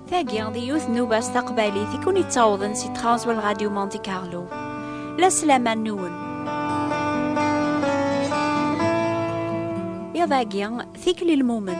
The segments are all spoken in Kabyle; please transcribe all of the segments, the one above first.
Tagi di yiwet n ubas taqbaylit i kun-ittawḍen si tɣawswa n Radio Monte Carlo. La sselaman nwen. Iḍ-agi, tikli lmumen.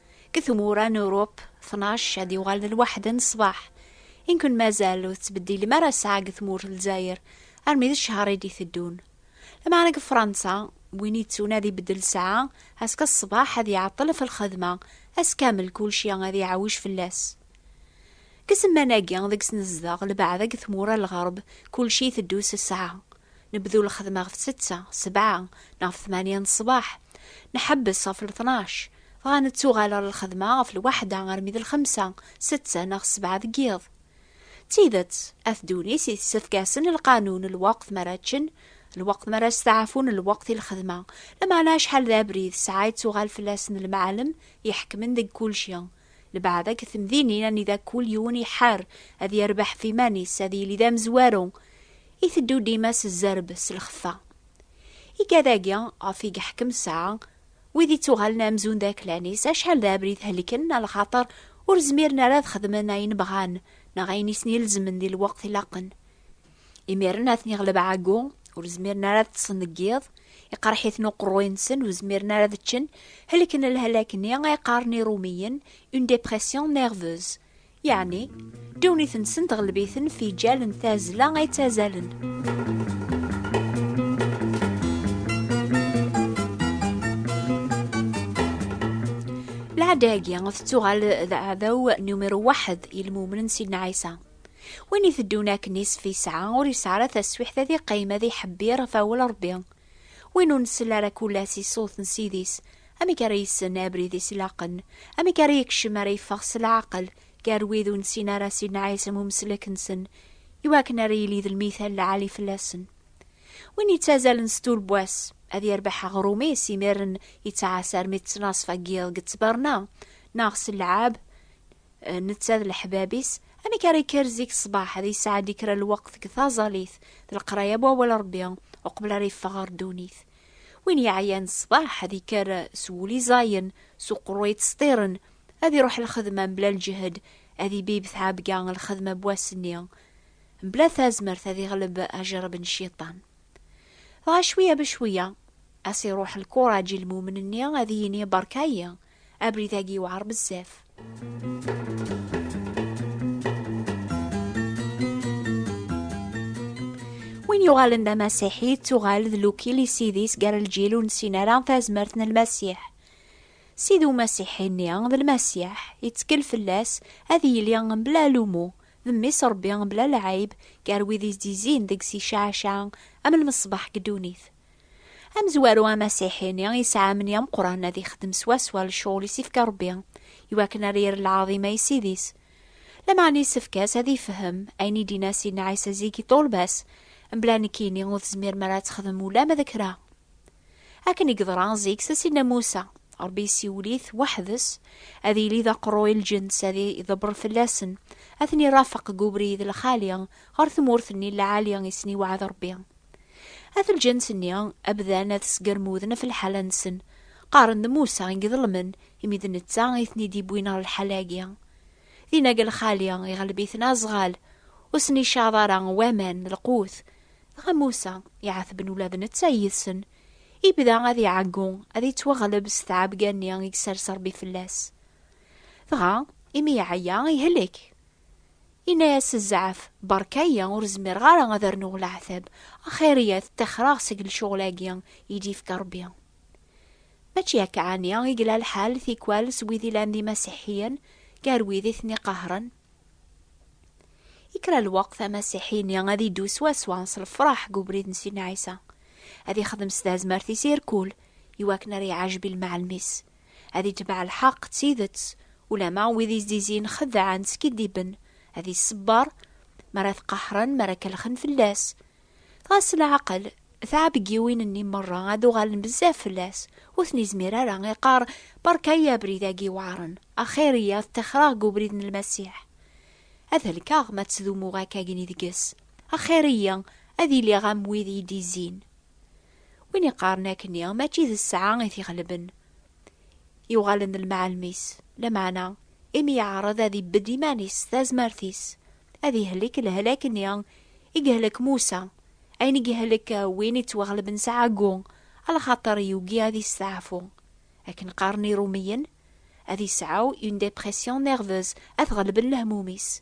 Deg tmura n Urup, tnac ad d-yuɣalen lwaḥed n ṣṣbeḥ. I nekk-n mazal ur tettbeddilem ara ssaɛa deg tmurt n Lezzayer, armi d ccehr i d-iteddun. Lameɛna deg Fransa, win yettun ad ibeddel ssaɛa, azekka ṣṣbeḥ ad iɛeṭṭel ɣef lxedma, ass kamel kulci ad iɛawij fell-as. Deg zzman-agi deg-s nezdeɣ, lbaɛda deg tmura n lɣerb, kulci iteddu s ssaɛa. Nebdu lxedma ɣef setta, sebɛa, neɣ ɣef tmanya n ṣṣbeḥ. Nḥebbes ɣef tnac. Dɣa nettuɣal ɣer lxedma ɣef lwaḥda armi d lxemsa, setta neɣ ssebɛa deg yiḍ. D tidet, At Dunis yessefk-asen lqanun, lweqt mi ara ččen, lweqt mi ara steɛfun, lweqt i lxedma. Lameɛna acḥal d abrid ssɛa i ttuɣal fell-asen lemɛalem iḥekmen deg kulci. Lebɛed akked temdinin anida kul yiwen iḥar ad yerbeḥ ɣef iman-is, ad yili d amezwaru, iteddu dima s zzerb, s lxeffa. Igad-agi ɣef i yeḥkem ssɛa, Wid ittuɣalen amzun d aklan-is, acḥal d abrid helken, a lxaṭer ur zmiren ara ad xedmen ayen bɣan, neɣ ayen i sen-ilezmen di lweqt ilaqen. Imiren a ten-iɣleb ɛeggu, ur zmiren ara ad ṭṭsen deg yiḍ, iqerreḥ-iten uqerruy-nsen, ur zmiren ara ad ččen, helken lhalak-nni ay qqaren Irumiyen, une dépression nerveuse. Yeɛni, ddunit-nsen tɣelb-iten fijal n tazzla ay ttazzalen. Lɛada-agi tettuɣal d aɛdaw numiru waḥed i lmumnen Sidna Ɛisa. Win iteddun akken isef yesɛa ur yesɛi ara taswiḥt ad iqqim ad iḥebbir ɣef awal Rebbi. Win ur nsell ara kul-as i ṣṣut n Ssid-is, amek ara yessen abrid-is ilaqen? Amek ara yekcem, ara yeffeɣ s leɛqel gar wid ur nessin ara Sidna Ɛisa n umeslek-nsen, i wakken ara yili d lmithal lɛali fell-asen? Win yettazalen s tulbwa-s, ad yerbeḥ aɣrum-is imiren yettɛassa armi d ttnaṣfa n yiḍ deg ttberna, neɣ s lleɛab, Eh, netta d leḥbab-is amek ara yekker zik ṣṣbeḥ ad yesɛed kra lweqt deg taẓalit d leqraya n wawal Rebbi uqbel ara yeffeɣ ɣer ddunit. Win yeɛyan ṣṣbeḥ ad yekker s wul iẓayen, s uqerru yettseṭṭiren, ad iruḥ lxedma mebla lǧehd, ad ibib tɛebga lxedma n wass-nni, mebla tazmert ad iɣleb ajerreb n cciṭan. Dɣa cwiya becwiya, as iruḥ lkuraǧ i lmumen-nni ad yini berka-yi, Abrid-agi yewɛer bezzaf. Win yuɣalen d amasiḥi yettuɣal d lukil i sidis gar lǧil ur nessin ara tazmert n lmasiḥ. Sid umasiḥi-nni d lmasiḥ, yettkel fell-as ad yili mebla alumu, d mmi-s Rebbi mebla lɛib gar wid i s-d-yezzin deg-s icaɛacaɛ am lmeṣbaḥ deg ddunit. Amezwaru amasiḥi-ni yesɛa amni ameqqran ad ixdem swaswa lecɣul i s-ifka Rebbi, iwakken ad yerr lɛaḍima i Ssid-is. Lameɛna yessefk-as ad ifhem ayen i d-yenna Sidna Ɛisa zik i ṭṭulba-s, Mebla nekkini ur tezmirem ara ad texdem ulamma d kra. Akken i yeḍra zik s Sidna Musa, Rebbi yessiwel-it weḥd-s, ad yili d aqerru i lǧens, ad iḍebber fell-asen, ad ten-irafeq deg ubrid lxali ɣer tmurt-nni n lɛali i sen-iweɛɛed Rebbi. At lǧens-nni, abdan ad sgermuden ɣef lḥala-nsen. Qqaren d Musa i iḍelmen, imi d netta i ten-id-iwwin ɣer lḥala-agi. Dinag lxali, iɣleb-iten azɣal, ur sen-icaḍ ara waman d lqut. Dɣa Musa, iɛetben ula d netta yid-sen, ibda ad iɛeggu, ad ittwaɣleb s tɛebga-nni i isers Rebbi fell-as. Dɣa, imi iɛeyya, ihlek. Inna-yas Zɛaf, Berka-yi, ur zmireɣ ara ad rnuɣ leɛtab, axir-iyi ad ttaxreɣ seg lecɣel-agi i d-yefka Rebbi. Mačči akka ɛni i yella lḥal tikwal s wid ilan d imasiḥiyen gar wid i ten-iqahren? I kra lweqt, amasiḥi-nni ad iddu swaswa s lefraḥ deg ubrid n Sidna Ɛisa, ad ixdem s tazmert-is irkul i wakken ara iɛajeb i lmeɛlem-is, Ad itbeɛ lḥeqq d tidet, ulamma wid izizin xeddɛen skiddiben, ad iṣebber mi ara t-qahren, mi ara kellxen fell-as. Dɣa s leɛqel, tɛebgiwin-nni merra ad uɣalen bezzaf fell-as, ur ten-izmir ara, iqqar, Berka-yi abrid-agi iweɛren, axir-iyi ad ṭixreɣ deg ubrid n Lmasiḥ. Ad helkeɣ ma ttdumuɣ akkagni deg-s, axir-iyi ad iliɣ am wid i d-izzin. Win iqqaren akkenni, mačči d sseɛa i t-ixelben. Yuɣalen d lmeɛlem-is, lameɛna imi yeɛreḍ ad ibbedd iman-is s tazmert-is, ad ihlek lehlak-nni i yehlek Musa, ayen i ihlek win ittwaɣelben s ɛeggu, alxaṭer yugi ad isteɛfu. Akken qqaren Irumiyen, ad isɛu une dépression nerveuse, ad t-ɣelben lehmum-is.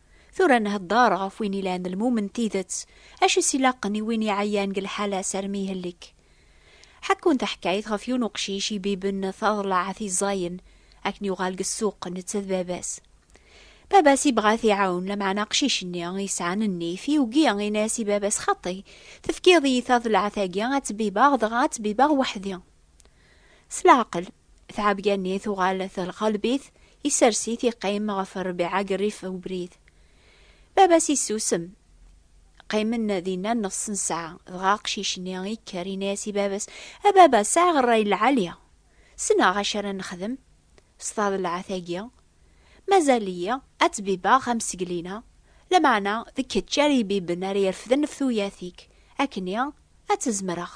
Tura nhedder ɣef win ilan d lmum n tidet, acu i s-ilaqen i win iɛeyyan deg lḥala sarmi ihellek. Ḥekkun taḥkayt ɣef yiwen uqcic ibiben taḍellaɛt i ẓẓayen, akken yuɣal deg ssuq netta d baba-s. Baba-s ibɣa ad t-iɛawen, lameɛna aqcic-nni yesɛan nnif yugi, in-as i baba-s xaṭi, tefkiḍ-iyi taḍellaɛt-agi ad ttbibbeɣ, dɣa ad ttbibbeɣ weḥd-i. S leɛqel, tɛebga-nni tuɣal telqelb-it, isers-it iqqim ɣef rrbiɛa g rrif ubrid. Baba-s issusem. Qqimen dinna nnexs n ssaɛa, dɣa aqcic-nni ikker yenna-as i baba-s, A baba, sɛiɣ rray lɛali. Ssneɣ acu ara nexdem s taḍelɛat-agi. Mazal-iyi ad ttbibbeɣ amsegli-a, lameɛna d kečč ara ibibben ara irefden ɣef tuyat-ik, akkenni ad tt-zemreɣ.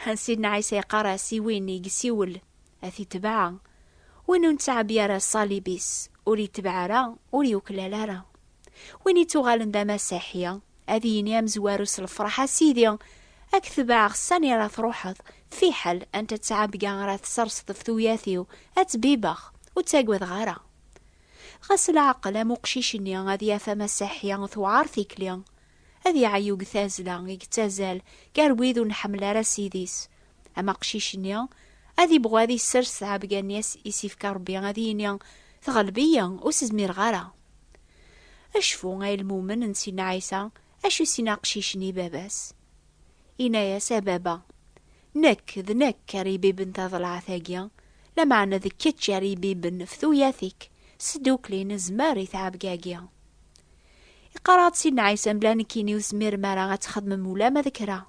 Ḥen Sidna Ɛisa yeqqar-as i win i yessiwel, a t-itbeɛ. Win ur nettɛebbi ara ṣṣalib-is, ur itbeɛ ara, ur yuklal ara. Win ittuɣalen d amasiḥi, ad yini amezwaru s lefṛeḥ, A Sidi, ad k-tebɛeɣ sani ara tṛuḥeḍ, fiḥel anta ttɛebga ara tesserseḍ ɣef tuyat-iw, ad ttbibbeɣ, ur ttagadeɣ ara. Dɣa s leɛqel am uqcic-nni ad yaf amasiḥi tewɛeṛ tikli. ad iɛeyyu deg tazzla i yettazzal gar wid ur nḥemmel ara Ssid-is. Am aqcic-nni, ad ibɣu ad isers tɛebga-nni i s-ifka Rebbi, ad yini, Tɣelb-iyi, ur s-zmireɣ ara. Acfu, ay lmumen n Sidna Ɛisa, acu s-yenna aqcic-nni i baba-s? Yenna-as, A baba! Nekk, d nekk ara ibiben taḍelɛat-agi, lameɛna d kečč ara ibiben ɣef tuyat-ik, s tdukli nezmer i tɛebga-agi. Iqarr-aɣ-d Sidna Ɛisa mebla nekkini ur tezmirem ara ad txedmem ulama d kra.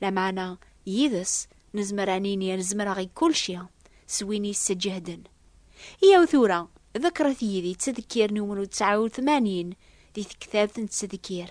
Lameɛna, yid-s, nezmer ad nini ad zemreɣ i kulci, s win yesseǧehden. Yyaw tura, ḍekkret yid-i ttdekkir n umru tesɛa u tmanyin, di tektabt n ttdekkir.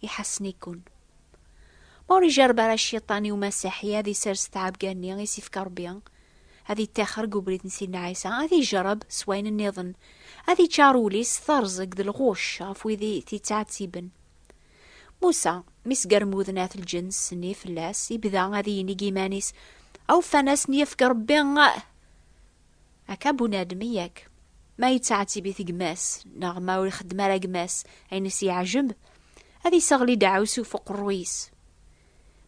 iḥassen-ikun. Ma ur ijarreb ara cciṭan i umasaḥi ad isers tɛebga-nni i s-ifka Rebbi, ad ittaxer deg ubrid n Sidna Ɛisa, ad ijerreb s wayen nniḍen, ad iččar ul-is s terẓeg d lɣucc ɣef wid i t-ittɛettiben. Musa, mi sgermuden at lǧens-nni fell-as, ibda ad inig iman-is, Awfan-asen yefk Rebbi! Akka bunadem yak, ma yettɛettibit gma-s, neɣ ma ur ixeddem ara gma-s ayen i s-yeɛjeb, ad iseɣli deɛɛusu f uqerruy-is.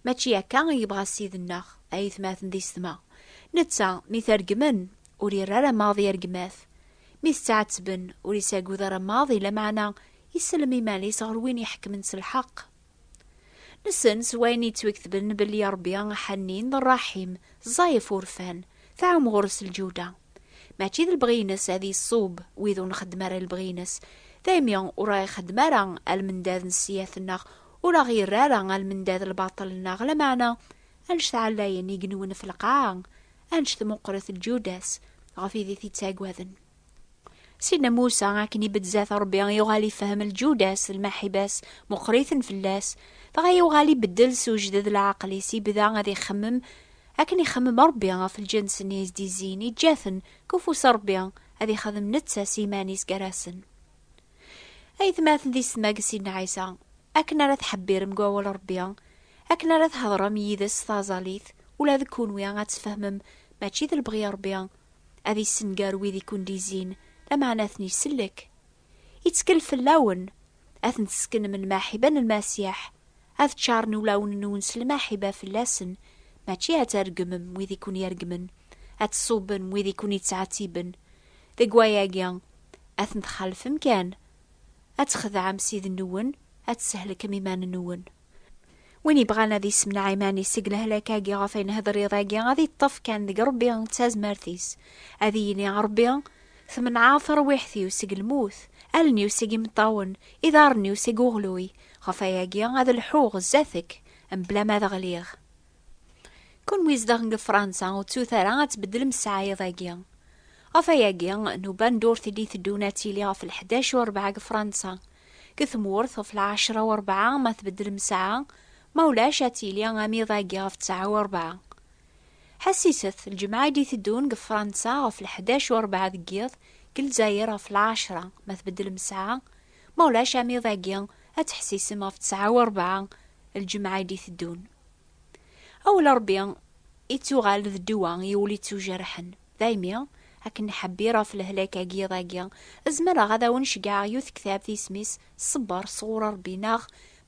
Mačči akka i yebɣa Ssid-nneɣ, ayetmaten d isetma. Netta, mi t-regmen, ur irra ara maḍi ar gma-t. Mi t-ttɛettben, ur isagud ara maḍi, lameɛna isellem iman-is ɣer win iḥekmen s lḥeq. Nessen s wayen yettweketben belli Ṛebbi aḥannin d ṛṛaḥim, ẓẓay ɣef urfan, tɛum ɣur-s lǧuda. Mačči d lebɣi-ines ad iṣub wid ur nxeddem ara lebɣi-ines, daymi ur aɣ-ixeddem ara almendad n ssyiat-nneɣ, ur aɣ-irra ara almendad lbaṭel-nneɣ, lameɛna anect ɛlayen i yenwen ɣef lqaɛa, anect meqqret lǧuda-s ɣef wid i t-ittaggaden. Sidna Musa akken i beddezat Rebbi yuɣal ifhem lǧudas d lmaḥibas meqqriten fell-as, dɣa yuɣal ibeddel s ujded leɛqel-is, ibda ad ixemmem akken ixemmem Rebbi ɣef lǧens-nni i s-d-izzin, iǧǧa-ten deg ufus n Rebbi, ad ixdem netta s yiman-is gar-asen. Aytmaten di setma n Sidna Ɛisa, akken ara tḥebbirem deg wawal n Rebbi, akken ara theḍrem yid-s s taẓallit, ula d kunwi ad tfehmem mačči d lebɣi n Rebbi, ad yessenger wid i kundizin, lameɛna ad ten-isellek. Ittkel fell-awen, ad ten-tesknem lmaḥiba n Lmasiḥ, ad ččaren ulawen-nwen s lmaḥiba fell-asen, mačči ad tregmem wid i ken-iregmen, ad tṣubbem wid i ken-ittɛettiben, deg wayagi, ad ten-txalfem kan, ad txedɛem Ssid-nwen, ad tsehlkem iman-nwen. Win yebɣan ad yessemneɛ iman-is seg lehlak-agi ɣef ay nehder iḍ-agi, ad yeṭṭef kan deg Rebbi d tazmert-is. Ad iyi-yini Rebbi, Tmenɛeḍ tarwiḥt-iw seg lmut, allen-iw seg imeṭṭawen, iḍarren-iw seg uɣluy, ɣef wayagi ad lḥuɣ sdat-k mebla ma ad ɣliɣ. Kenwi zedɣen deg Fṛansa, ur ttut ara ad tbeddlem ssaɛa iḍ-agi. Ɣef wayagi, nnuba n ddurt i d-iteddun ad tili ɣef lḥdac u rebɛa deg Fṛansa. Deg tmurt, ɣef lɛecra u rebɛa ma tbeddlem ssaɛa, ma ulac ad tili am iḍ-agi ɣef ttɛa u rebɛa. Ḥessit-t, lǧemɛa i d-iteddun deg Fransa ɣef lḥdac u rebɛa deg yiḍ, deg Lezzayer ɣef lɛecra ma tbeddlem ssaɛa, ma ulac am iḍ-agi ad teḥsisem ɣef ttɛa u rebɛa lǧemɛa i d-iteddun. Awel Ṛebbi ittuɣal d ddwa i ul ittujerḥen. Daymi, akken nḥebbir ɣef lehlak-agi iḍ agi, zemreɣ ad awen-ceggɛeɣ yiwet tektabt isem-is Ṣebber sɣur Ṛebbi neɣ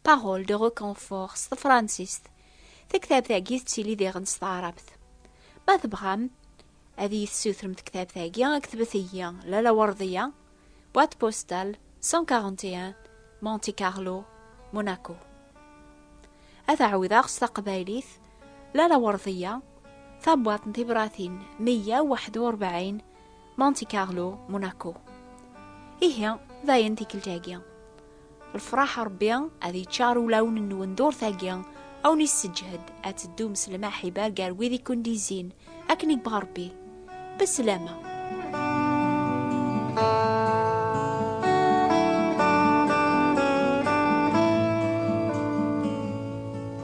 Paroles de reconfort s tefransist. Taktabt-agi tettili diɣen s taɛrabt. Ma tebɣam ad iyi-tessutrem tektabt-agi, ktbet-iyi Lalla Werdiya, Boîte postale 141 Monte Carlo, Monaco. Ad ɛawdeɣ s taqbaylit Lala Werdiya, tabwaḍt n tibratin 141 Monte Carlo, Monaco. Ihi dayen tikkelt-agi. Lefraḥ Rebbi ad yeččar ulawen-nwen durtagi, a wen-isseǧhed ad teddum s lmaḥiba gar wid i kundizin, akken i yebɣa Rebbi. Beslama!